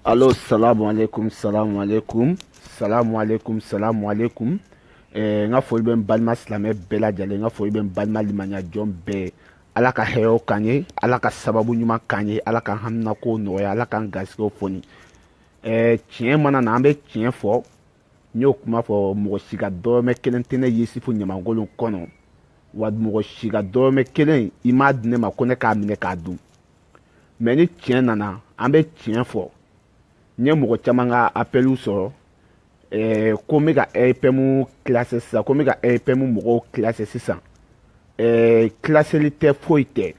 Allô, salam alaikum, salam alaikum, salam alaikum, salam alaikum. Eh, n ka foli bɛ n balima silamɛ bɛɛ lajɛlen n ka foli bɛ n balima limaniya jɔn bɛɛ ala ka hɛrɛw k'an ye ala ka sababu ɲuman k'an ye ala k'an haminako nɔgɔya ala k'an garisigɛw foni eh, tiɲɛ mana na an bɛ tiɲɛ fɔ n y'o kuma fɔ mɔgɔ si ka dɔrɔmɛ kelen tɛ ne yusufu ɲamankolon kɔnɔ wa mɔgɔ si ka dɔrɔmɛ kelen i m'a di ne ma ko ne k'a minɛ k'a dun mɛ ni tiɲɛ nana an bɛ tiɲɛ fɔ n ye mɔgɔ caman ka apɛliw sɔrɔ eh, ko n bɛ ka RPM kilase sisan ko n bɛ ka RPM mɔgɔw kilase sisan eh, kilaseli tɛ foyi tɛ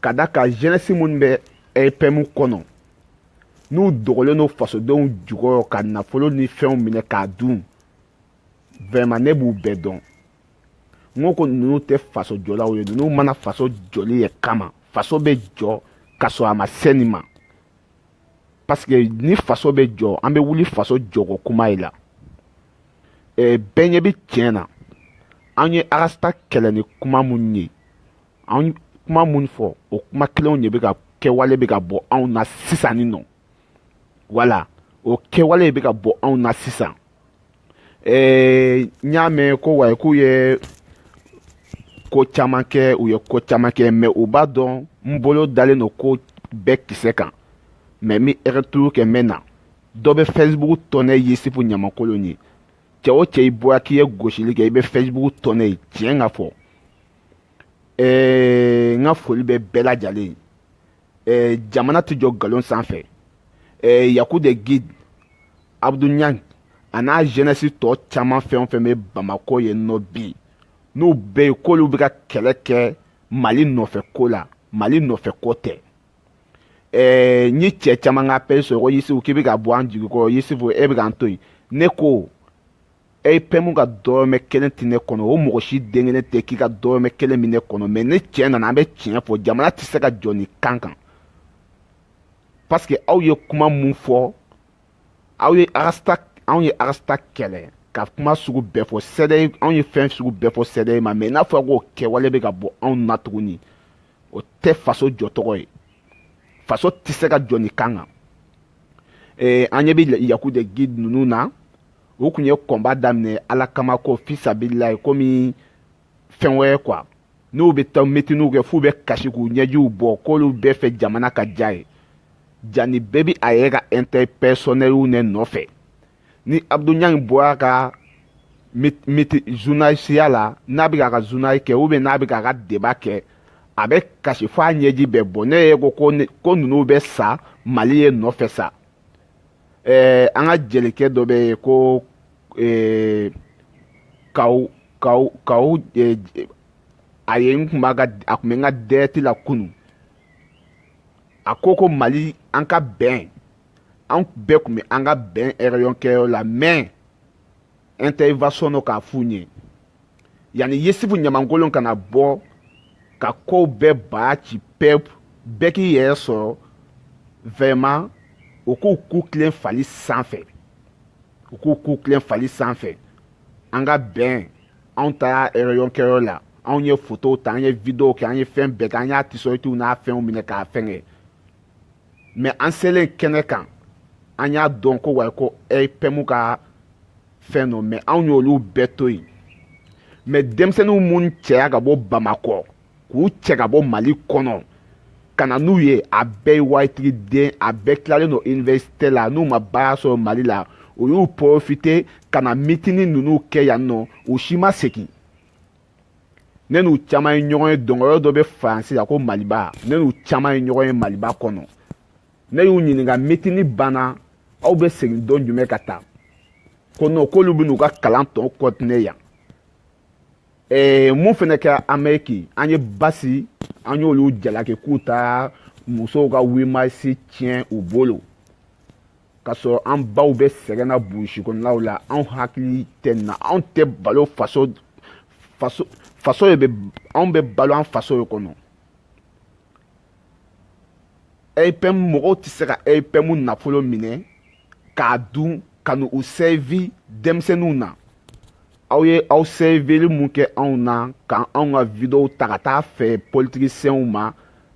ka da kan jenɛsi minnu bɛ RPM kɔnɔ n'u dogolen don fasodenw jukɔrɔ ka nafolo ni fɛnw minɛ k'a dun vraiment ne b'u bɛɛ dɔn n ko ko ninnu tɛ faso jɔlaw ye ninnu ma na faso jɔli ye kama faso bɛ jɔ ka sɔrɔ a ma se nin ma parce que ni faso bɛ jɔ an bɛ wuli faso jɔko kuma ye la ɛɛ eh, bɛɛ ɲɛ bɛ tiɲɛ na an ye arasta kɛlɛ ni kuma minnu ye an kuma minnu fɔ o kuma kelenw de bɛ ka kɛwale bɛ ka bɔ anw na sisan nin nɔ wala o kɛwale bɛ ka bɔ anw na sisan ee n y'a mɛn ko wayi k'u ye ko caman kɛ u ye ko caman kɛ mɛ u b'a dɔn n bolo dalen don ko bɛɛ kisɛ kan mɛ n bɛ ɛrɛturu kɛ n bɛ na dɔ bɛ fɛsibugu dɔn ne yusufu ɲamankolon ye cɛ o cɛ i bɔra k'i ye gosili kɛ i bɛ fɛsibugu dɔn ne ye tiɲɛ ka fɔ ɛɛ n ka foli bɛ bɛɛ lajɛlen ye eh, jamana tɛ jɔ nkalon sanfɛ eh, yaku de guide abdu ɲang a n'a jeunesse tɔ caman fɛn o fɛn bɛ bamakɔ yen nɔ bi n'u bɛɛ ye k'olu bɛ ka kɛlɛ kɛ mali nɔfɛ ko la mali nɔfɛ ko tɛ eh, n ye cɛ caman ka appel sɔrɔ ko yusufu k'i bɛ ka bɔ an jigi kɔrɔ yusufu e bɛ k'an to yen ne ko RPM ka dɔrɔmɛ kelen tɛ ne kɔnɔ o mɔgɔ si den kelen tɛ k'i ka dɔrɔmɛ kelen bɛ ne kɔnɔ mɛ ni tiɲɛ nana an bɛ tiɲɛ fɔ jamana tɛ se ka jɔ nin kan kan parce que aw ye kuma mun fɔ aw ye arasta anw ye arasta kɛlɛ ka kuma sugu bɛɛ fɔ CEDEAO anw ye fɛn sugu bɛɛ fɔ CEDEAO ma mɛ n'a fɔra k'o kɛwale bɛ ka bɔ anw na tuguni o tɛ faso jɔcogo ye faso tɛ se ka jɔ nin kan kan an ɲɛ bɛ yaku de guide ninnu na u tun ye kɔnba daminɛ ala kama ko fisabililayi komi fɛn wɛrɛ kuwa n'u bɛ taa mitiniw kɛ f'u bɛ kasi k'u ɲɛjiw bɔ k'olu bɛɛ fɛ jamana ka diya ye jani bɛɛ bɛ a yɛrɛ ka ɛntɛrɛ pɛsɔnɛriw ne nɔfɛ ni abudu ɲaŋ bɔra ka miti zunayisiya la n'a bɛ k'a ka zunayi kɛ ubiyɛn n'a bɛ k'a ka deba kɛ a bɛ kasi f'a ɲɛji bɛ bɔ ne ye ko ko ninnu bɛ sa mali ye nɔfɛ sa an ka jelikɛ dɔ bɛ yen ko kaw kaw kaw a ye n tun b'a ka a tun bɛ n ka dɛrɛti la kunun a ko ko mali an ka bɛn an bɛɛ tun bɛ an ka bɛn rɛyɔn kɛyɔrɔ la mɛ intervention dɔ k'a f'u ɲɛ yanni yusufu ɲamankolon kana bɔ ka kow bɛɛ bara ci pɛp bɛɛ k'i yɛrɛ sɔrɔ vɛrɛman u k'u ku tilen fali sanfɛ u k'u ku tilen fali sanfɛ an ka bɛn anw taara rɛyɔn kɛyɔrɔ la anw ye fotow ta an ye videow kɛ an ye fɛn bɛɛ kɛ an y'a tisɔritiw n'a fɛnw minɛ k'a fɛngɛ mɛ an selen kɛnɛ kan an y'a dɔn ko wa ko RPM ka fɛn don mɛ anw y'olu bɛɛ to yen mɛ denmisɛnninw minnu cɛya ka bɔ bamakɔ k'u cɛ ka bɔ mali kɔnɔ ka na n'u ye a bɛɛ ye waritigi den a bɛɛ tilalen don université la n'u ma baara sɔrɔ mali la u y'u profite ka na mitini ninnu kɛ yan nɔ u si ma segin ne n'u caman ye ɲɔgɔn ye dɔnkɛyɔrɔ dɔ bɛ faransi la ko maliba ne n'u caman ye ɲɔgɔn ye maliba kɔnɔ ne y'u ɲininka mitini banna aw bɛ segin don jumɛn ka taa ko nɔ k'olu bɛn'u ka kalan tɔ kɔtine yan ee mun fana kɛra ameriki an ye basi an y'olu jalaki k'u taara musow ka wimasi tiɲɛ u bolo ka sɔrɔ an baw bɛ sɛgɛn na burusi kɔnɔnaw la anw hakili tɛ nin na anw tɛ balo faso faso faso de bɛ anw bɛ balo an faso de kɔnɔ RPM mɔgɔw tɛ se ka RPM nafolo minɛ k'a dun ka n'u u sɛvi denmisɛnninw na aw ye aw sɛvili mun kɛ anw na ka anw ka videow ta ka taa feere politikisenw ma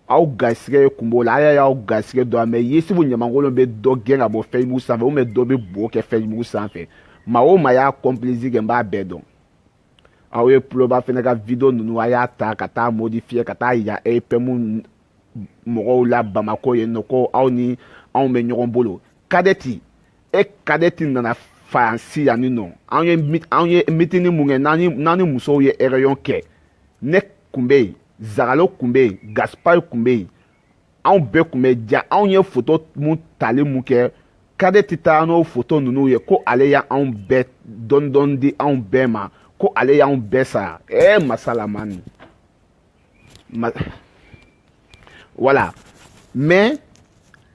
aw garisɛgɛ ye kun b'o la ala y'aw garisɛgɛ don a mɛ yusufu ɲamankolon bɛ dɔ gɛn ka bɔ fesibuku sanfɛ ubiyɛn dɔ bɛ bo kɛ fesibuku sanfɛ maa o maa y'a kɔnpilisi kɛ n b'a bɛɛ dɔn aw ye tuloba fɛnɛ ka video ninnu a y'a ta ka taa modifiye ka taa yira RPM mɔgɔw la bamakɔ yen nɔ ko aw ni anw bɛ ɲɔgɔn bolo kadɛti e kadɛti nana faransi yan nin nɔ an ye an ye mitini mun kɛ n'an ni n'an ni musow ye ɛrɛyɔn kɛ ne kun bɛ yen zagalo kun bɛ yen gaspari kun bɛ yen anw bɛɛ kun bɛ ja anw ye foto mun tali mun kɛ kadɛti taara n'o foto ninnu ye ko ale y'anw bɛɛ dɔɔni dɔɔni di anw bɛɛ ma ko ale y'anw bɛɛ sara ɛɛ masalamani wala mɛ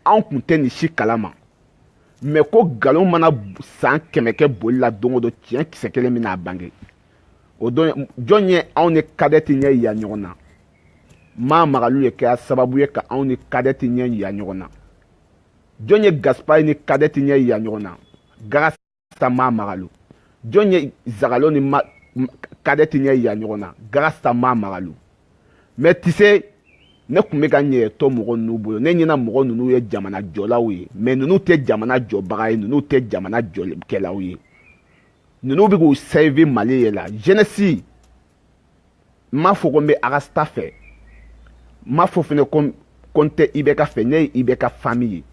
anw kun tɛ nin si kalama mɛ ko nkalon mana san kɛmɛ kɛ boli la don o don tiɲɛ kisɛ kelen bɛna a bange o don jɔn ye anw ni kadɛti ɲɛ yira ɲɔgɔn na maa magalu ye kɛra sababu ye ka anw ni kadɛti ɲɛ yira ɲɔgɔn na jɔn ye gaspari ni kadɛti ɲɛ yira ɲɔgɔn na sa ma magalu jɔn ye zagalo ni ma kadɛti ɲɛ yira ɲɔgɔn na garasa ma magalu mɛ tise ne kun bɛ ka n yɛrɛ to mɔgɔ ninnu bolo ne ɲɛna mɔgɔ ninnu ye jamana jɔlaw ye mɛ ninnu tɛ jamana jɔbaga ye ninnu tɛ jamana jɔlikɛlaw ye ninnu bɛ k'u sɛvi mali ye la jɛnɛsi n m'a fɔ ko n bɛ arasita fɛ n m'a fɔ fɛnɛ ko ko n tɛ ibɛka fɛ ne ye ibɛka fami ye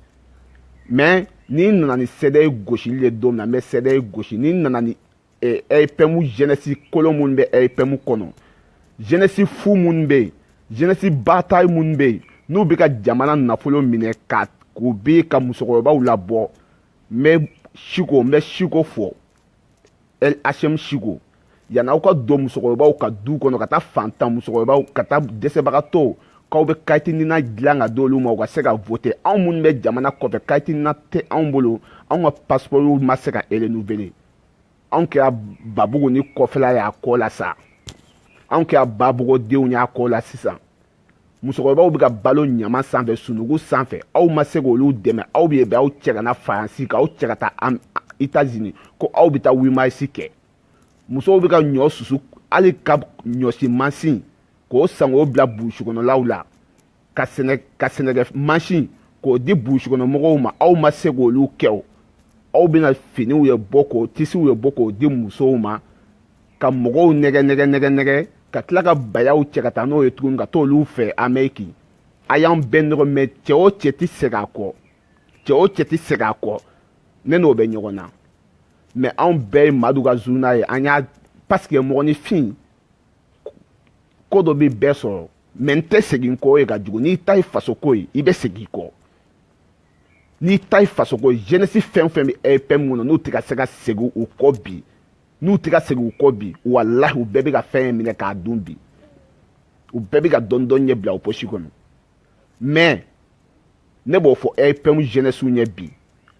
mɛ ni n nana ni sɛdɛyɛri gosili ye don min na n bɛ sɛdɛyɛri gosi ni n nana ni ɛripɛmu eh, jɛnɛsi kolon minnu bɛ ɛripɛmu kɔnɔ jɛnɛsi fu minnu bɛ yen jɛnɛsi batari minnu bɛ yen n'u bɛ ka jamana nafolo minɛ ka k'u bɛ ka musokɔrɔbaw labɔ n bɛ siko n bɛ siko fɔ el hm siko yanni aw ka don musokɔrɔbaw ka du kɔnɔ ka taa fantan musokɔrɔbaw ka taa dɛsɛbagatɔw k'aw bɛ kayitinina dilan ka d'olu ma u ka se ka vote anw minnu bɛ jamana kɔfɛ kayitinina tɛ anw bolo anw ka pasipɔriw ma se ka renouveler anw kɛra babugu ni kɔfɛla y'a kɔ la sa anw kɛra babugudenw y'a kɔ la sisan musokɔrɔbaw bɛ ka balo ɲaman sanfɛ sunugu sanfɛ aw ma se k'olu dɛmɛ aw bɛ bɛ aw cɛ ka na faransi ka aw cɛ ka taa itazini ko aw bɛ taa wimarisi kɛ musow bɛ ka ɲɔ susu hali ka ɲɔsi mansin k'o san k'o bila burusi kɔnɔlaw la ka sɛnɛ ka sɛnɛkɛ mansin k'o di burusi kɔnɔ mɔgɔw ma aw ma se k'olu kɛ o aw bɛna finiw ye bɔ k'o tisiw ye bɔ k'o di musow ma ka mɔgɔw nɛgɛ nɛgɛ nɛgɛ nɛgɛ ka tila ka bayaw cɛ ka taa n'o ye tuguni ka t'olu fɛ amɛriki a y'an bɛɛ nɔgɔ mɛ cɛ o cɛ tɛ segin a kɔ cɛ o cɛ tɛ segin a kɔ ne n'o bɛ ɲɔgɔn na mɛ anw bɛɛ ye madu ka zuna ye an y'a pasike mɔgɔninfin ko dɔ bɛ bɛɛ sɔrɔ mɛ n tɛ segin kɔ ye ka jugu n'i ta ye faso ko ye i bɛ segin kɔ n'i ta ye faso ko ye jɛnɛsi fɛn o fɛn bɛ ɛripɛmu kɔnɔ n'u tɛ ka se ka segin u kɔ bi n'u tɛ ka segin u kɔ bi walahi u bɛɛ bɛ ka fɛn ye minɛ k'a dun bi u bɛɛ bɛ ka dɔɔni dɔɔni ɲɛ bila u posi kɔnɔ mais ne b'o fɔ EPM jeunesse ye bi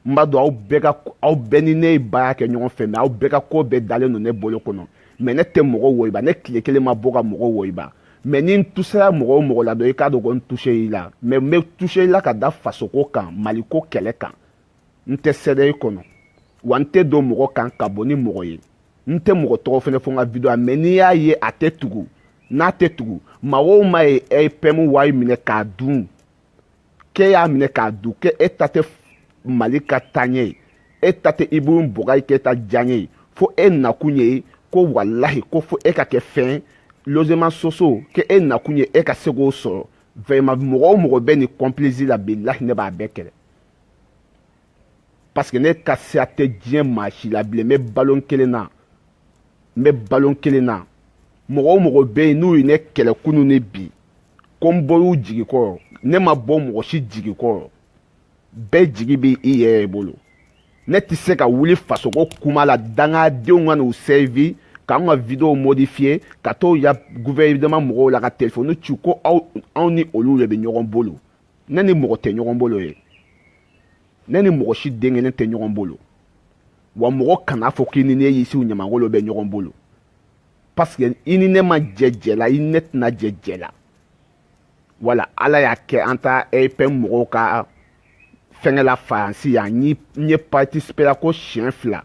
n b'a dɔn aw bɛɛ ka aw bɛɛ ni ne ye baara kɛ ɲɔgɔn fɛ mais aw bɛɛ ka ko bɛɛ dalen don ne bolo kɔnɔ mais ne tɛ mɔgɔ wɔyiba ne tile kelen ma bɔ ka mɔgɔ wɔyiba mais ni n touchera mɔgɔ o mɔgɔ la dɔrɔn i k'a dɔn ko n touché i la mais n bɛ touché i la ka da fasoko kan maliko kɛlɛ kan n tɛ CDR kɔnɔ wa n tɛ don mɔgɔ kan ka bɔ ni mɔgɔ ye n tɛ mɔgɔ tɔgɔ fɛnɛ fɔ n ka video mais n'i y'a ye a tɛ tugu n'a tɛ tugu maa o maa ye EPM wari minɛ k'a dun k'e y'a minɛ k'a dun k'e e ta tɛ mali ka taaɲɛ ye e ta tɛ Ibrahim Boubacar Keïta diyaɲɛ ye fo e nakun ye ko walahi ko fo e ka kɛ fɛn logement sociaux k'e nakun ye e ka se k'o sɔrɔ vraiment mɔgɔ o mɔgɔ bɛ nin complice la bilahi ne b'a bɛɛ kɛlɛ parce que ne ka sira tɛ diɲɛ maa si la bilen n bɛ balon kelen na n bɛ balon kelen na mɔgɔ o mɔgɔ bɛ yen n'u ye ne kɛlɛ kunu ni bi ko n bɔr'u jigi kɔrɔ ne ma bɔ mɔgɔ si jigi kɔrɔ bɛɛ jigi bɛ i yɛrɛ bolo ne tɛ se ka wuli fasoko kuma la dangadenw ka n'u servi k'an ka videow modifiye ka t'o yira guvɛrɛnema mɔgɔw la ka telefɔni ci ko anw ni olu de bɛ ɲɔgɔn bolo ne ni mɔgɔ tɛ ɲɔgɔn bolo ye ne ni mɔgɔ si den kelen tɛ ɲɔgɔn bolo wa mɔgɔ kana fɔ k'i ni ne yisibu ɲamakolo bɛ ɲɔgɔn bolo parce que i ni ne ma jɛ jɛ la i ni ne tɛna jɛ jɛ la wala ala y'a kɛ an ta EPM mɔgɔw ka fɛngɛ la faransi yan n ye participera ko siɲɛ fila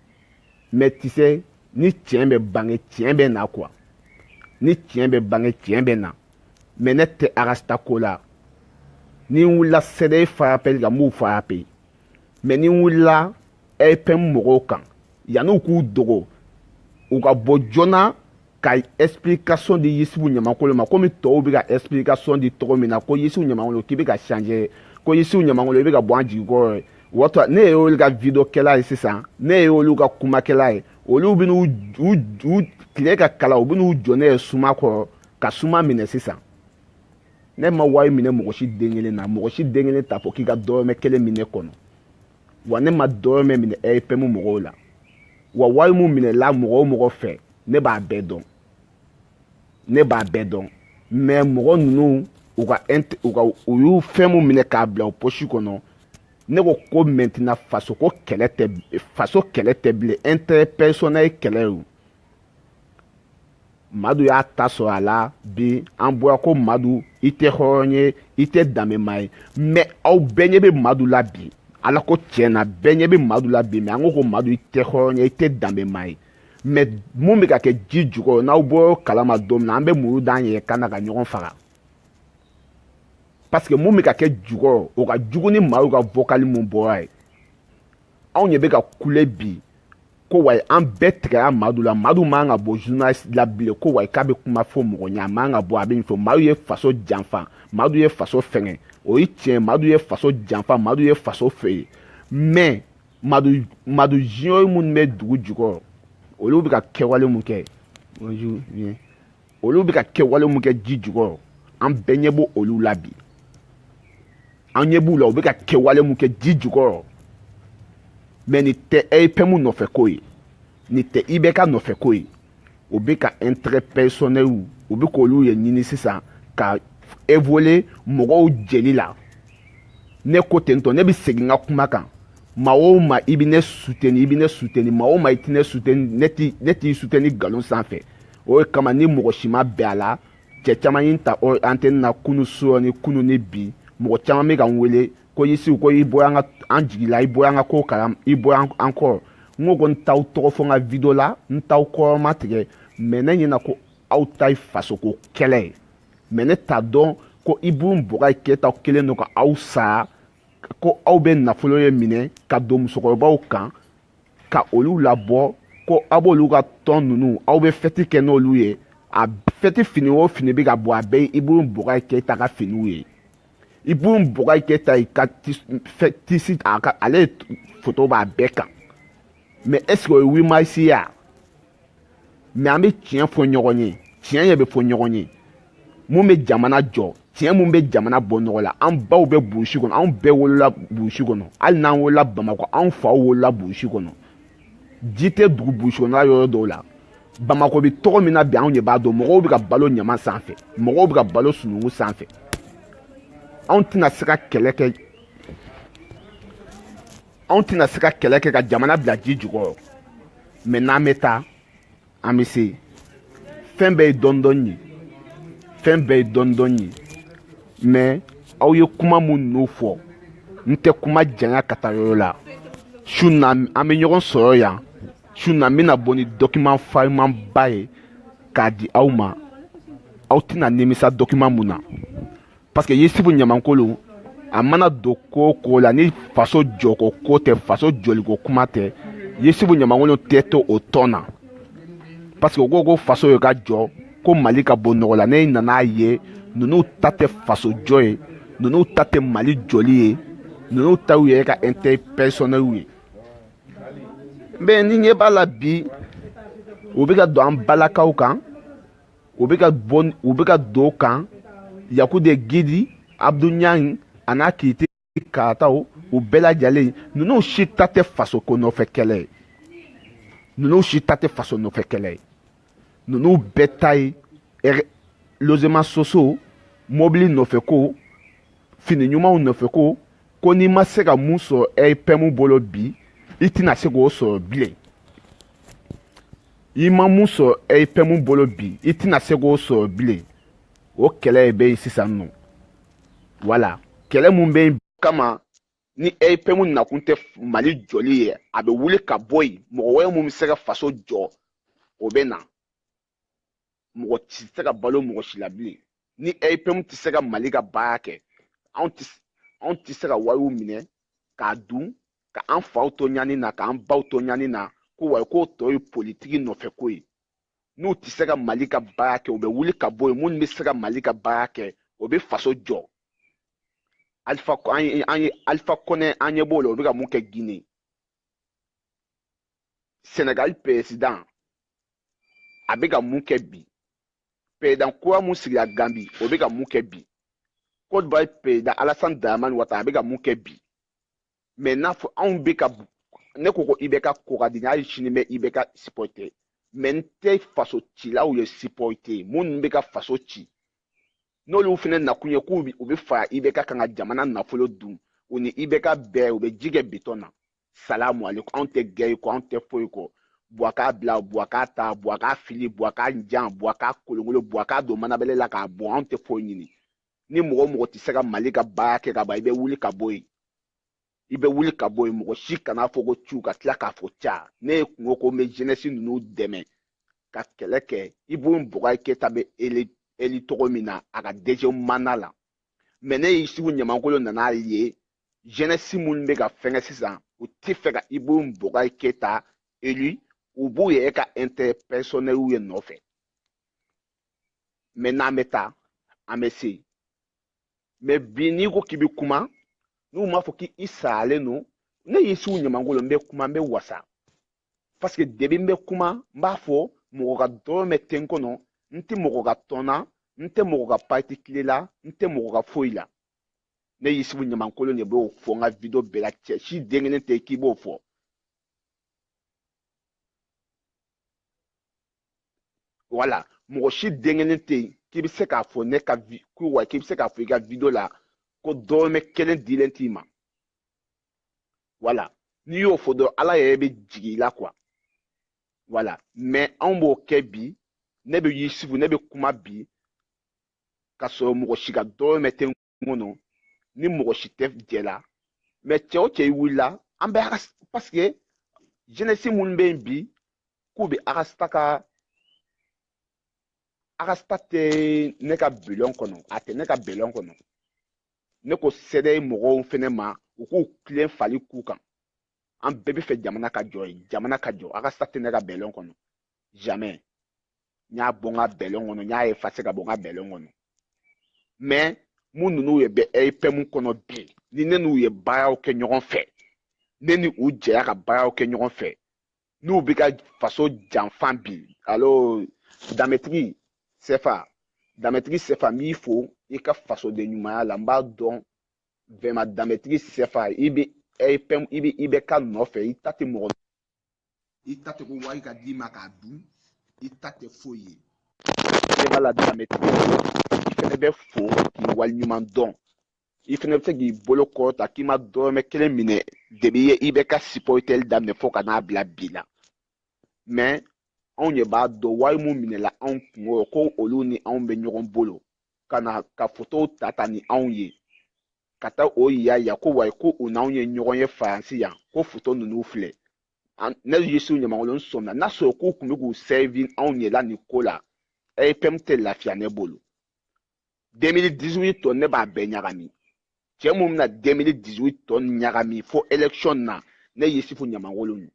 mais tu sais ni tiɲɛ bɛ bange tiɲɛ bɛ na quoi ni tiɲɛ bɛ bange tiɲɛ bɛ na mais ne tɛ Rasta ko la ni n wulila CDR farapeli kan n b'u farape mais ni n wulila EPM mɔgɔw kan yanni u k'u dogo u ka bɔ joona ka explication di yisibu ɲamakolo ma komi tɔw bɛ ka explication di cogo min na ko yisibu ɲamakolo k'i bɛ ka changer ko yisibu ɲamakolo i bɛ ka bɔ an jigi kɔrɔ ye wɔtɔ ne ye olu ka video kɛla ye sisan ne ye olu ka kumakɛla ye olu bɛ n'u u u tile ka kala u bɛ n'u jɔ ne ye suma kɔrɔ ka suma minɛ sisan ne ma wari minɛ mɔgɔ si den kelen na mɔgɔ si den kelen t'a fɔ k'i ka dɔrɔmɛ kelen bɛ ne kɔnɔ wa ne ma dɔrɔmɛ minɛ EPM mɔgɔw la wa wari mu minɛla mɔgɔ o mɔgɔ fɛ ne b'a bɛɛ dɔn ne b'a bɛɛ dɔn mais mɔgɔ ninnu u ka u ka u y'u fɛn mu minɛ k'a bila u posi kɔnɔ ne ko ko maintenant faso ko kɛlɛ tɛ faso kɛlɛ tɛ bilen intérêt personnel kɛlɛ ye madu y'a ta sɔrɔ a la bi an bɔra ko madu i tɛ hɔrɔn ye i tɛ danbema ye mɛ aw bɛɛ ɲɛ bɛ madu la bi ala ko tiɲɛ na bɛɛ ɲɛ bɛ madu la bi mɛ an ko ko madu i tɛ hɔrɔn ye i tɛ danbema ye mɛ mun bɛ ka kɛ ji jukɔrɔ n'aw bɔra kalama don min na an bɛ muru d'an yɛrɛ kan na ka ɲɔgɔn faga parce que mun bɛ ka kɛ jukɔrɔ o ka jugu ni madu ka vokali mun bɔra ye anw de bɛ ka kule bi ko wayi an bɛɛ tigɛra madu la madu man ka bɔ journaliste la bilen ko wayi k'a bɛ kuma fɔ mɔgɔ ɲɛ a man ka bɔ a bɛ nin fɔ madu ye faso janfa madu ye faso fɛnkɛ o ye tiɲɛ madu ye faso janfa madu ye faso feere mais madu junior minnu bɛ dugu jukɔrɔ olu bɛ ka kɛwale mun kɛ bonjour bien olu bɛ ka kɛwale mun kɛ ji jukɔrɔ an bɛɛ ɲɛ b'olu la bi an ɲɛ b'u la u bɛ ka kɛwale mun kɛ ji jukɔrɔ mɛ nin tɛ epm nɔfɛ ko ye nin tɛ ibk nɔfɛ ko ye u bɛ ka intérêt personnel u bɛ k'olu ye ɲini sisan ka évoluer mɔgɔw jeli la ne ko ten tɔ ne bɛ segin n ka kuma kan maa o maa i bɛ ne suteni i bɛ ne suteni maa o maa i tɛ ne suteni ne t'i ne t'i suteni nkalon sanfɛ o de kama ni mɔgɔ si ma bɛn a la cɛ caman ye n ta o antɛni na kunu su rɔ ni kunu ni bi mɔgɔ caman bɛ ka n wele ko yusu ko i bɔra an jigi la i bɔra an ka ko kalan i bɔra an kɔrɔ n ko ko n t'aw tɔgɔ fɔ n ka video la n t'aw kɔrɔmatigɛ mɛ ne ɲɛna ko aw ta ye fasoko kɛlɛ ye mɛ ne t'a dɔn ko ibrahim boubacar keita kɛlen don ka aw sara ko aw bɛ nafolo ye minɛ ka don musokɔrɔbaw kan ka olu labɔ ko aw b'olu ka tɔn ninnu aw bɛ fɛti kɛ n'olu ye a fɛti fini o fini bɛ ka bɔ a bɛɛ ye ibrahim boubacar keita ka finiw ye ibrahim boubacar keita i ka tisi a ka ale foto b'a bɛɛ kan mɛ ɛseke o ye huit mars ye wa mɛ an bɛ tiɲɛ fɔ ɲɔgɔn ye tiɲɛ yɛrɛ bɛ fɔ ɲɔgɔn ye mun bɛ jamana jɔ tiɲɛ mun bɛ jamana bɔ nɔgɔ la an baw bɛ burusi kɔnɔ anw bɛɛ wolola burusi kɔnɔ hali n'an wolola bamakɔ anw faw wolola burusi kɔnɔ ji tɛ dugu burusi kɔnɔla yɔrɔ dɔw la bamakɔ bɛ cogo min na bi anw de b'a dɔn mɔgɔw bɛ ka balo ɲama sanfɛ mɔgɔw bɛ ka balo sununkun sanfɛ anw tɛna se ka kɛlɛ kɛ anw tɛna se ka kɛlɛ kɛ ka jamana bila ji jukɔrɔ mɛ n'an bɛ taa an bɛ se fɛn bɛɛ ye dɔɔni dɔɔni ye fɛn bɛɛ ye dɔɔni dɔɔni ye mɛ aw ye kuma minnu fɔ n tɛ kuma janya ka taa yɔrɔ la su na an bɛ ɲɔgɔn sɔrɔ yan su na n bɛna bɔ ni dɔkiman farimanba ye k'a di aw ma aw tɛna nimisa dɔkiman mun na parce que yusufu ɲamankolon a mana don ko o ko la ni faso jɔko ko tɛ faso jɔliko kuma tɛ yusufu ɲamankolon tɛ to o tɔn na parce que u ko ko faso ye ka jɔ ko mali ka bɔ nɔgɔ la ne nan'a ye ninnu ta tɛ faso jɔ ye ninnu ta tɛ mali jɔli ye ninnu ta y'u yɛrɛ ka intérêt personnel ye mais n'i ɲɛ b'a la bi u bɛ ka don an balakaw kan u bɛ ka bɔ u bɛ ka don kan yaku de gidi abdu ɲang a n'a kiti karataw u bɛɛ lajɛlen ninnu si ta tɛ faso ko nɔfɛ kɛlɛ ye ninnu si ta tɛ faso nɔfɛ kɛlɛ ye ninnu bɛɛ ta ye logements sociaux mɔbili nɔfɛ ko fini ɲumanw nɔfɛ ko ko n'i ma se ka mun sɔrɔ rpm bolo bi i tɛna se k'o sɔrɔ bilen i ma mun sɔrɔ rpm bolo bi i tɛna se k'o sɔrɔ bilen o kɛlɛ bɛ yen sisan nɔ voilà kɛlɛ mun bɛ yen kama ni rpm nakun tɛ mali jɔli ye a bɛ wuli ka bɔ yen mɔgɔ wɛrɛ mun bɛ se ka faso jɔ o bɛ na mɔgɔ tɛ se ka balo mɔgɔ si la bilen ni rpm tɛ se ka mali ka baara kɛ anw tɛ anw tɛ se ka wariw minɛ k'a dun ka an faw to ɲani na k'an baw to ɲani na ko wa k'o tɔ ye politiki nɔfɛ ko ye n'u tɛ se ka mali ka baara kɛ u bɛ wuli ka bɔ yen minnu bɛ se ka mali ka baara kɛ o bɛ faso jɔ alifa an ye alifa kɔnde an ɲɛ b'o la o bɛ ka mun kɛ gine sɛnɛgali peresidan a bɛ ka mun kɛ bi peresidan kura mun sigira ganbi o bɛ ka mun kɛ bi côte d'ivoire peresidan alasani daramani watara a bɛ ka mun kɛ bi mais n'a fɔ anw bɛ ka ne ko ko ibk ko ka di hali sini n bɛ ibk sipɔrite mais n tɛ faso cilaw ye sipɔrite minnu bɛ ka faso ci n'olu fana nakun ye k'u bɛ fara ibk kan ka jamana nafolo dun u ni ibk bɛɛ u bɛ ji kɛ bitɔn na salamu alekum anw tɛ gɛri kɔ anw tɛ foyi kɔ buwa ka bila buwa ka ta buwa ka fili buwa ka jan buwa ka kolonkolon buwa ka don manabɛlɛ la k'a bɔn anw tɛ foyi ɲini ni mɔgɔ o mɔgɔ tɛ se ka mali ka baara kɛ ka ban i bɛ wuli ka bɔ yen i bɛ wuli ka bɔ yen mɔgɔ si kana fɔ ko cu ka tila k'a fɔ ca ne yɛrɛ kun ko n bɛ jenɛsi ninnu dɛmɛ ka kɛlɛ kɛ ibrahim boubacar keïta bɛ élu cogo min na a ka deuxième mandat la mais ne yusufu ɲamankolon nan'a ye jenɛsi minnu bɛ ka fɛngɛ sisan u t'a fɛ ka ibrahim boubacar keïta élu u b'u yɛrɛ ka intérêt personnel ye nɔfɛ mais n'an bɛ taa an bɛ se mɛ bi n'i ko k'i bɛ kuma n'u m'a fɔ k'i saralen don ne yusufu ɲamakolon n bɛ kuma n bɛ wasa paseke depuis n bɛ kuma n b'a fɔ mɔgɔ ka dɔrɔmɛ tɛ n kɔnɔ n tɛ mɔgɔ ka tɔn na n tɛ mɔgɔ ka pati tile la n tɛ mɔgɔ ka foyi la ne yusufu ɲamakolon de b'o fɔ n ka video bɛɛ la cɛ si den kelen tɛ k'i b'o fɔ wala mɔgɔ si den kelen tɛ yen k'i bɛ se k'a fɔ ne ka ko wa k'i bɛ se k'a fɔ i ka video la ko dɔrɔmɛ kelen dilen t'i ma wala n'i y'o fɔ dɔrɔn ala yɛrɛ bɛ jigin i la kuwa wala mɛ anw b'o kɛ bi ne bɛ yusufu ne bɛ kuma bi ka sɔrɔ mɔgɔ si ka dɔrɔmɛ tɛ kɔnɔ ni mɔgɔ si tɛ jɛ la mɛ cɛ o cɛ i wulila an bɛ a paseke jenɛsi minnu bɛ yen bi k'u bɛ a ka sita ka a ka sita tɛ ne ka bilɔn kɔnɔ a tɛ ne ka bilɔn kɔnɔ ne ko cdr mɔgɔw fɛnɛ ma u k'u tilen fali ku kan an bɛɛ b'a fɛ jamana ka jɔ ye jamana ka jɔ a ka sita tɛ ne ka bilɔn kɔnɔ jamais n y'a bɔ n ka bilɔn kɔnɔ n y'a effacer ka bɔ n ka bilɔn kɔnɔ mais mun ninnu yɛrɛ bɛ rpm kɔnɔ bi ni ne n'u ye baaraw kɛ ɲɔgɔn fɛ ne ni u jɛra ka baaraw kɛ ɲɔgɔn fɛ n'u bɛ ka faso janfa bi alors danbetigi sɛfa danbetigi sɛfa n b'i fo i ka fasoden ɲumanya la n b'a dɔn vraiment danbetigi sɛfa i bɛ rpm i bɛ ibk nɔfɛ i ta tɛ mɔgɔ i ta tɛ ko wari ka d'i ma k'a dun i ta tɛ foyi ye jɛma la danbetigi i fɛnɛ bɛ fo k'i waliɲuman dɔn i fɛnɛ bɛ se k'i bolo kɔrɔta k'i ma dɔrɔmɛ kelen minɛ depuis i ye ibk sipɔritɛli daminɛ fo ka n'a bila bi la mɛ anw de b'a dɔn wari mun minɛla anw kunkɔrɔ ko olu ni anw bɛ ɲɔgɔn bolo ka na ka fotow ta ta ni anw ye ka taa o yira yan ko wayi ko u n'anw ye ɲɔgɔn ye faransi yan ko foto ninnu filɛ ne yusufu ɲamakolon sɔmina n'a sɔrɔ k'u tun bɛ k'u sɛvi anw yɛrɛ la nin ko la rpm tɛ lafiya ne bolo 2018 tɔ ne b'a bɛɛ ɲagami cɛ mun bɛna 2018 tɔ ɲagami fo election na ne yusufu ɲamakolon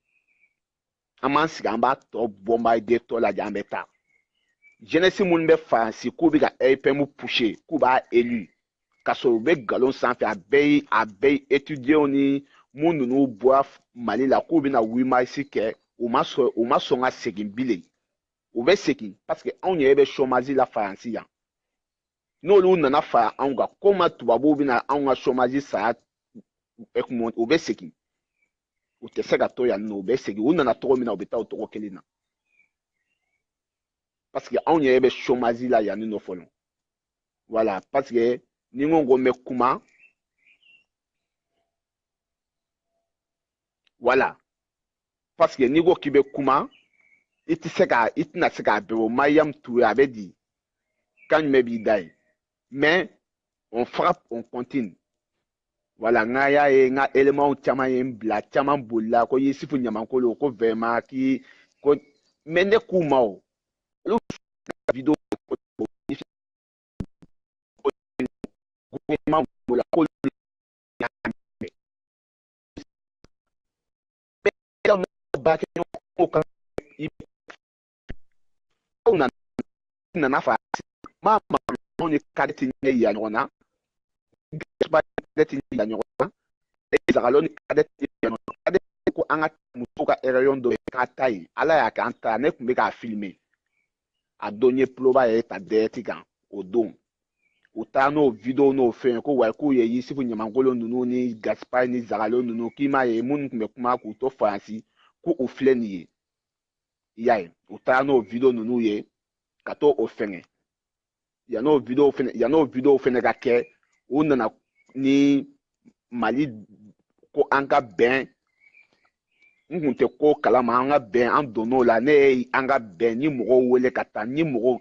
an b'an sigi an b'a tɔ bɔnbadetɔ lajɛ an bɛ taa jenɛsi minnu bɛ faransi k'u bɛ ka rpm pushe k'u b'a elu ka sɔrɔ u bɛ nkalon sanfɛ a bɛɛ ye a bɛɛ ye etudiyenw ni mun ninnu bɔra mali la k'u bɛna wimarisi kɛ u ma sɔn u ma sɔn ka segin bilen u bɛ segin paseke anw yɛrɛ bɛ chômage la faransi yan n'olu nana fara anw kan komi tubabuw bɛna anw ka chômage sara u bɛ segin u tɛ se ka to yan nɔ u bɛ segin u nana cogo min na u bɛ taa o cogo kelen na parce que anw yɛrɛ bɛ chômage la yanni nɔ fɔlɔ voilà parce que ni n ko ko n bɛ kuma voilà parce que n'i ko k'i bɛ kuma i tɛ se ka i tɛna se k'a bɛɛ fɔ mariyamu ture a bɛ di kan jumɛn b'i da ye mais on frappe on continue voilà n ka y'a ye n ka éléments caman ye n bila caman bolila ko yisifu ɲamankolo ko vraiment k'i ko mais ne k'u ma o olu video gouvernement b'o la k'olu nana fa ma ma ɲɔgɔn ye kari ti ɲɛ yira ɲɔgɔn na ba tɛ ti yira ɲɔgɔn na zagalo ni kari ti yira ɲɔgɔn na kari ko an ka muso ka réunion dɔ ye ka taa yen ala y'a kɛ an taa ne tun bɛ k'a filime a don n ye tuloba yɛrɛ ta direct kan o don u taara n'o video n'o fɛn ko wayi k'u ye yisifu ɲamankolo ninnu ni gasipa ni zagalo ninnu k'i m'a ye minnu tun bɛ kuma k'u to faransi ko u filɛ nin ye i y'a ye u taara n'o video ninnu ye ka to o fɛngɛ yan nɔ video fɛnɛ ka kɛ u nana ni mali ko an ka bɛn n kun tɛ ko kalama an ka bɛn an donn'o la ne ye an ka bɛn ni mɔgɔw wele ka taa ni mɔgɔw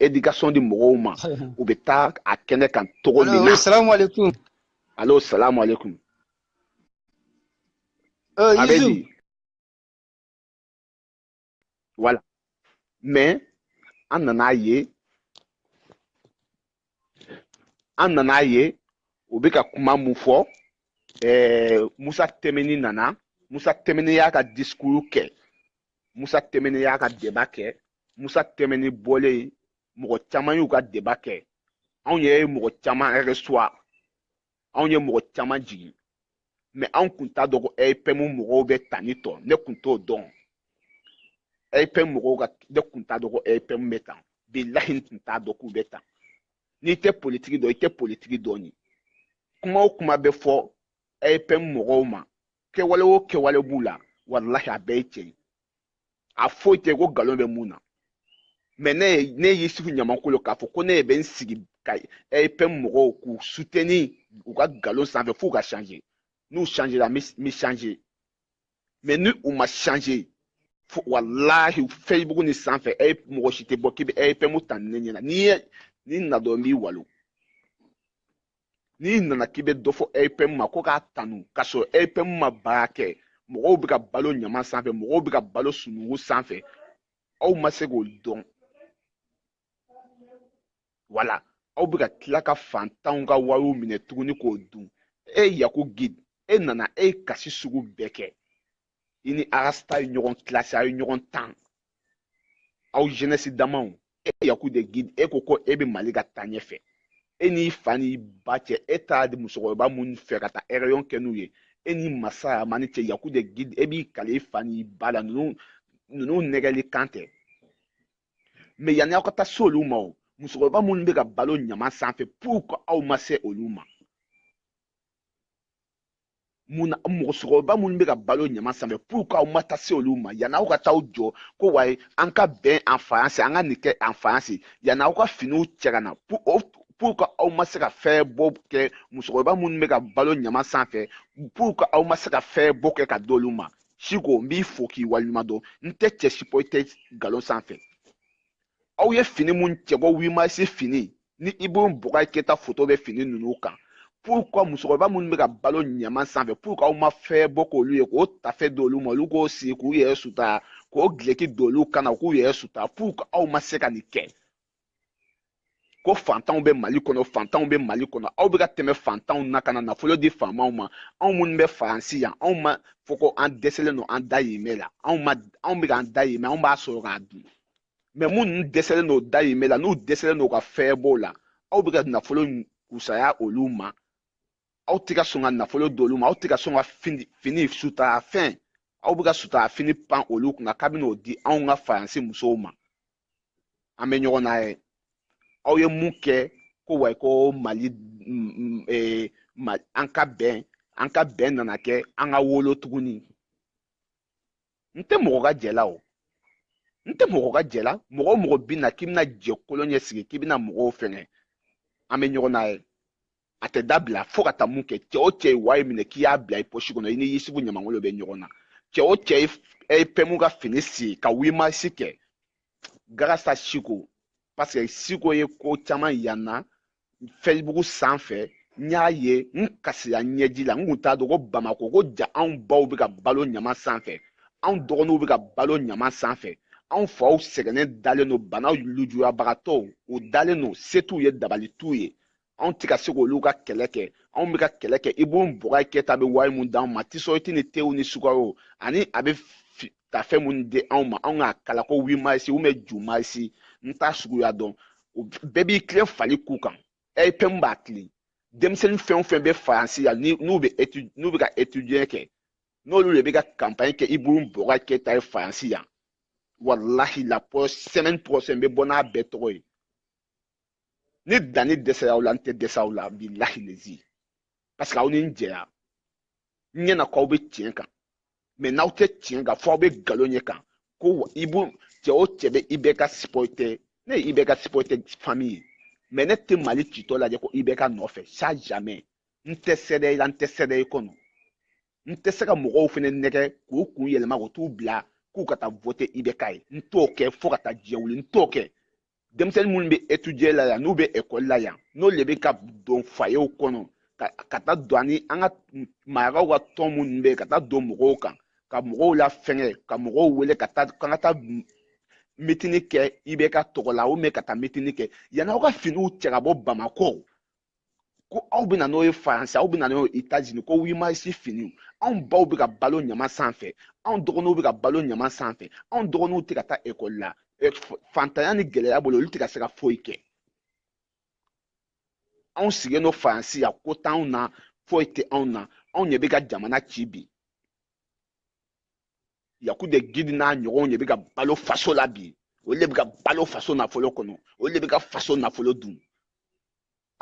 éducation di mɔgɔw ma u bɛ taa a kɛnɛ kan cogo min na. salamu aleykum. alo salamu aleykum. a bɛ di. Voilà. Mais, an nana ye an nana ye u bɛ ka kuma min fɔ eh, musa tɛmɛni nana musa tɛmɛni y'a ka discours kɛ musa tɛmɛni y'a ka débat kɛ musa tɛmɛni bɔlen mɔgɔ caman y'u ka débat kɛ anw yɛrɛ ye mɔgɔ caman recevoir anw ye mɔgɔ caman jigin mais anw kun t'a dɔn ko rpm mɔgɔw bɛ tani tɔ ne kun t'o dɔn rpm mɔgɔw ka ne kun t'a dɔn ko rpm bɛ tan bilahi n tun t'a dɔn k'u bɛ tan n'i tɛ politiki dɔn i tɛ politiki dɔn ye kuma o kuma bɛ fɔ rpm mɔgɔw ma kɛwale o kɛwale b'u la walahi a bɛɛ ye tiɲɛ ye a foyi tɛ ko nkalon bɛ mun na mɛ ne yisufu ɲamankolo k'a fɔ ko ne bɛ n sigi ka rpm mɔgɔw k'u suteni u ka nkalon sanfɛ f'u ka change n'u changera n bɛ change mɛ ni u ma change walahi facebook ni sanfɛ e mɔgɔ si tɛ bɔ k'i bɛ rpm tanu ne ɲɛna n'i ye n'i nana dɔrɔn n b'i walon n'i nana k'i bɛ dɔ fɔ rpm ma ko k'a tanu k'a sɔrɔ rpm ma baara kɛ mɔgɔw bɛ ka balo ɲama sanfɛ mɔgɔw bɛ ka balo sunugu sanfɛ aw ma se k'o dɔn wala aw bɛ ka tila ka fantanw ka wariw minɛ tuguni k'o dun e yaku gide e nana e ye kasi sugu bɛɛ kɛ i ni arasta ye ɲɔgɔn kilasi a ye ɲɔgɔn tan aw jenɛsi damaw e yaku de gide e ko ko e bɛ mali ka taa ɲɛfɛ e n'i fa n'i ba cɛ e taara di musokɔrɔba minnu fɛ ka taa ɛrɛyɔn kɛ n'u ye e ni masa mani cɛ yaku de gide e b'i kali i fa n'i ba la ninnu ninnu nɛgɛli kan tɛ mɛ yanni aw ka taa se olu ma o musokɔrɔba minnu bɛ ka balo ɲama sanfɛ pourquoi aw ma se olu ma musokɔrɔba minnu bɛ ka balo ɲama sanfɛ pourquoi aw ma taa se olu ma yanni aw ka taa aw jɔ ko wayi an ka bɛn en faransi an ka nin kɛ en faransi yanni aw ka finiw cɛ ka na pourquoi aw ma se ka fɛɛrɛbɔ kɛ musokɔrɔba minnu bɛ ka balo ɲama sanfɛ pourquoi aw ma se ka fɛɛrɛbɔ kɛ ka d'olu ma siko n b'i fo k'i waleɲuman dɔn n tɛ cɛ sipɔrite nkalon sanfɛ aw ye fini mun cɛbɔ huit mars fini ni ibrahim boubacar keita foto bɛ fini ninnu kan pourquoi musokɔrɔba minnu bɛ ka balo ɲaman sanfɛ pourquoi aw ma fɛɛrɛbɔ k'olu ye k'o tafe d'olu ma olu k'o siri k'u yɛrɛ sutura k'o duloki don olu kan na k'u yɛrɛ sutura pourquoi aw ma se ka nin kɛ ko fantanw bɛ mali kɔnɔ fantanw bɛ mali kɔnɔ aw bɛ ka tɛmɛ fantanw na ka na nafolo di faamaw ma anw minnu bɛ faransi yan anw ma fɔ ko an dɛsɛlen don an dayirimɛ la anw ma anw bɛ k'an dayirimɛ anw b'a sɔrɔ k'a dun mɛ minnu dɛsɛlen don dayirimɛ la n'u dɛsɛlen don ka fɛɛrɛbɔ la aw bɛ ka nafolo kusaya olu ma aw tɛ ka sɔn ka nafolo di olu ma aw tɛ ka sɔn ka fini fini sutura fɛn aw bɛ ka sutura fini pan olu kunna k'a bɛna o di anw ka faransi musow ma an bɛ ɲɔgɔn na yɛrɛ aw ye mun kɛ ko wayi ko mali e, an ka bɛn an ka bɛn nana kɛ an ka wolo tuguni n tɛ mɔgɔ ka jɛ la o n tɛ mɔgɔ ka jɛ la mɔgɔ o mɔgɔ bɛ na k'i bɛna jɛ kolo ɲɛ sigi k'i bɛna mɔgɔw fɛngɛ an bɛ ɲɔgɔn na yɛrɛ a tɛ dabila fo ka taa mun kɛ cɛ o cɛ ye wari minɛ k'i y'a bila i pɔsi kɔnɔ i ni yisufu ɲamankolo bɛ ɲɔgɔn na cɛ o cɛ ye rpm ka fini si ka huit mars kɛ grâce à siko parce que siko ye ko caman yanna facebook sanfɛ n y'a ye n kasira ɲɛji la n kun t'a dɔn ko bamako ko ja anw baw bɛ ka balo ɲaman sanfɛ anw dɔgɔninw bɛ ka balo ɲaman sanfɛ anw faw sɛgɛnnen dalen don bana lujuyabagatɔw u dalen don se t'u ye dabali t'u ye anw tɛ ka se k'olu ka kɛlɛ kɛ anw bɛ ka kɛlɛ kɛ ibu bɔgɔ keyita bɛ wari mun d'anw ma tisɔriti ni tew ni sukaro ani a bɛ ka fɛn minnu di anw ma anw k'a kala ko huit mars ou bien ju mars n t'a suguya dɔn o bɛɛ b'i tilen fali k'u kan RPM b'a tilen denmisɛnnin fɛn o fɛn bɛ faransi la n'u bɛ n'u bɛ ka etudie kɛ n'olu de bɛ ka kanpanɲi kɛ ibu bɔgɔ keyita ye faransi yan walahi la semaine prochaine bɛ bɔ n'a bɛɛ tɔgɔ ye ni danni dɛsɛra aw la n tɛ dɛsɛ aw la bilahi lezi parce que aw ni n jɛya n ɲɛna k'aw bɛ tiɲɛ kan mais n'aw tɛ tiɲɛ kan fɔ aw bɛ nkalon de kan ko ibu cɛ o cɛ bɛ IBK supporter ne ye IBK supporter fami ye mais ne tɛ mali citɔ lajɛ ko IBK nɔfɛ ça jamais n tɛ CDR la n tɛ CDR kɔnɔ n tɛ se ka mɔgɔw fana nɛgɛ k'u kun yɛlɛma k'u t'u bila k'u ka taa vote IBK ye n t'o kɛ fo ka taa diɲɛ wuli n t'o kɛ denmisɛnnin minnu bɛ etudie la yan n'u bɛ ekɔli la yan n'olu de bɛ ka don foyew kɔnɔ ka taa don ani an ka marakaw ka tɔn minnu bɛ yen ka taa don mɔgɔw kan ka mɔgɔw lafɛngɛ ka mɔgɔw wele ka taa kan ka taa mitini kɛ IBK tɔgɔ la ou bien ka taa mitini kɛ yanni aw ka finiw cɛ ka bɔ bamakɔ ko aw bɛ na n'o ye faransi aw bɛ na n'o ye etazini ko huit mars finiw anw baw bɛ ka balo ɲaman sanfɛ anw dɔgɔninw bɛ ka balo ɲaman sanfɛ anw dɔgɔninw tɛ ka taa ekɔli la fantanya ni gɛlɛya bolo olu tɛ ka se ka foyi kɛ anw sigilen don faransi yan ko t'anw na foyi tɛ anw na anw ɲɛ bɛ ka jamana ci bi yaku de gidi n'a ɲɔgɔnw de bɛ ka balo faso la bi olu de bɛ ka balo faso nafolo kɔnɔ olu de bɛ ka faso nafolo dun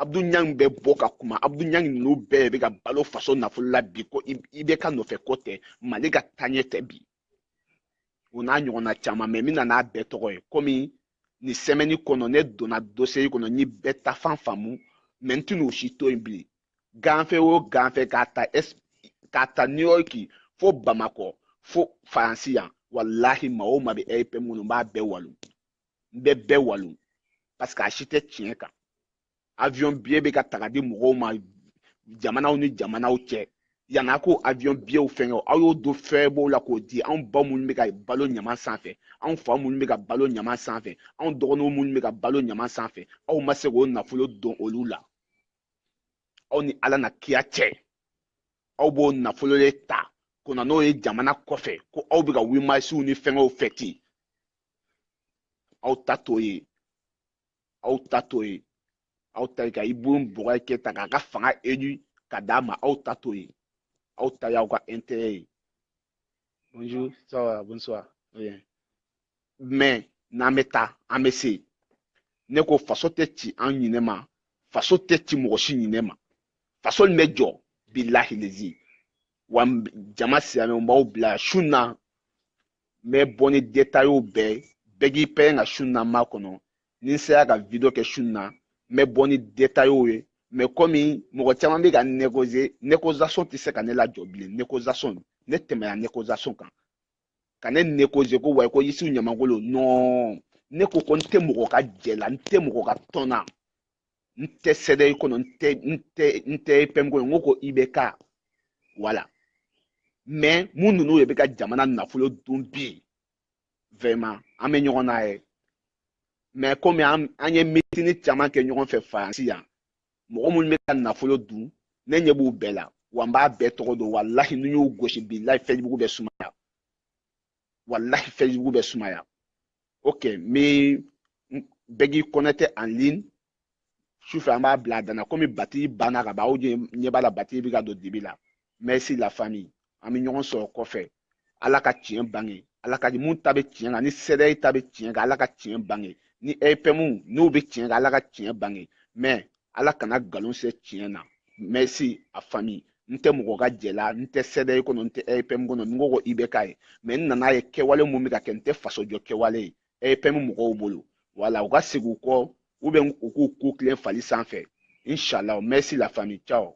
abudu ɲangi bɛ bɔ ka kuma abudu ɲangi ninnu bɛɛ bɛ ka balo faso nafolo la bi ko IBK nɔfɛ ko tɛ mali ka taaɲɛ tɛ bi o n'a ɲɔgɔnna caman mais n bɛ na n'a bɛɛ tɔgɔ ye komi nin semaine kɔnɔ ne donna dossier kɔnɔ n ye bɛɛ ta fan faamu mais n tɛna o si to yen bilen ganfɛ o ganfɛ k'a ta es k'a ta new york fo bamakɔ fo faransi yan walahi maa o maa bɛ RPM na n b'a bɛɛ walon n bɛ bɛɛ walon parce que a si tɛ tiɲɛ kan avion biye bɛ ka ta ka di mɔgɔw ma jamanaw ni jamanaw cɛ yanni a k'o avion biyew fɛngɛ o aw y'o don fɛn b'o la k'o di anw ba minnu bɛ ka balo ɲaman sanfɛ anw fa minnu bɛ ka balo ɲaman sanfɛ anw dɔgɔninw minnu bɛ ka balo ɲaman sanfɛ aw ma se k'o nafolo don olu la aw ni ala n'a kira cɛ aw b'o nafolo de ta ko na n'o ye jamana kɔfɛ ko aw bɛ ka huit marsw ni fɛngɛw fɛti aw ta t'o ye aw ta t'o ye aw ta ye ka ibrahim boubacar keïta k'a ka fanga élu ka d'a ma aw ta t'o ye aw ta y'aw ka intérêt ye bonjour ça va bonsoir bien mais n'an bɛ taa an bɛ se ne ko faso tɛ ci an ɲinɛ ma faso tɛ ci mɔgɔ si ɲinɛ ma faso nin bɛ jɔ bilahi lezi wa jama silamɛw b'aw bila su na n bɛ bɔ ni détails bɛɛ ye bɛɛ k'i pɛrɛn ka su na makɔnɔ ni n sera ka video kɛ su na n bɛ bɔ ni détails ye mais komi mɔgɔ caman bɛ ka négocier négociation tɛ se ka ne lajɔ bilen négociation ne tɛmɛna négociation kan ka ne négocier ko wayi ko isufu ɲamangolo non ne ko ko n tɛ mɔgɔ ka jɛ la n tɛ mɔgɔ ka tɔn na n tɛ cdr kɔnɔ n tɛ n tɛ n tɛ epm kɔnɔ n ko ko ibk voilà mais mun ninnu de bɛ ka jamana nafolo dun bi vraiment an bɛ ɲɔgɔn na ye mais komi an an ye meeting caman kɛ ɲɔgɔn fɛ faransi yan mɔgɔ minnu bɛ ka nafolo dun ne ɲɛ b'u bɛɛ la wa n b'a bɛɛ tɔgɔ dɔn walahi n'u y'u gosi bilahi facebook bɛ sumaya walahi facebook bɛ sumaya ok mais bɛɛ k'i connecter en ligne sufɛ an b'a bila a danna komi batiri banna ka ban aw ɲɛ b'a la batiri bɛ ka don dibi la merci la famille an bɛ ɲɔgɔn sɔrɔ kɔfɛ ala ka tiɲɛ bange ala ka mun ta bɛ tiɲɛ kan ni cdr ta bɛ tiɲɛ kan ala ka tiɲɛ bange ni epm n'u bɛ tiɲɛ kan ala ka tiɲɛ bange mais ala kana galon se tiɲɛ na merci la famille n tɛ mɔgɔ ka jɛ la n tɛ cdr kɔnɔ n tɛ epm kɔnɔ n ko ko ibk ye mais n nana ye kɛwale mun bɛ ka kɛ n tɛ faso jɔ kɛwale ye epm mɔgɔw bolo voilà u ka segin u kɔ ou bien u k'u kun tilen fali sanfɛ inshallah merci la famille ciao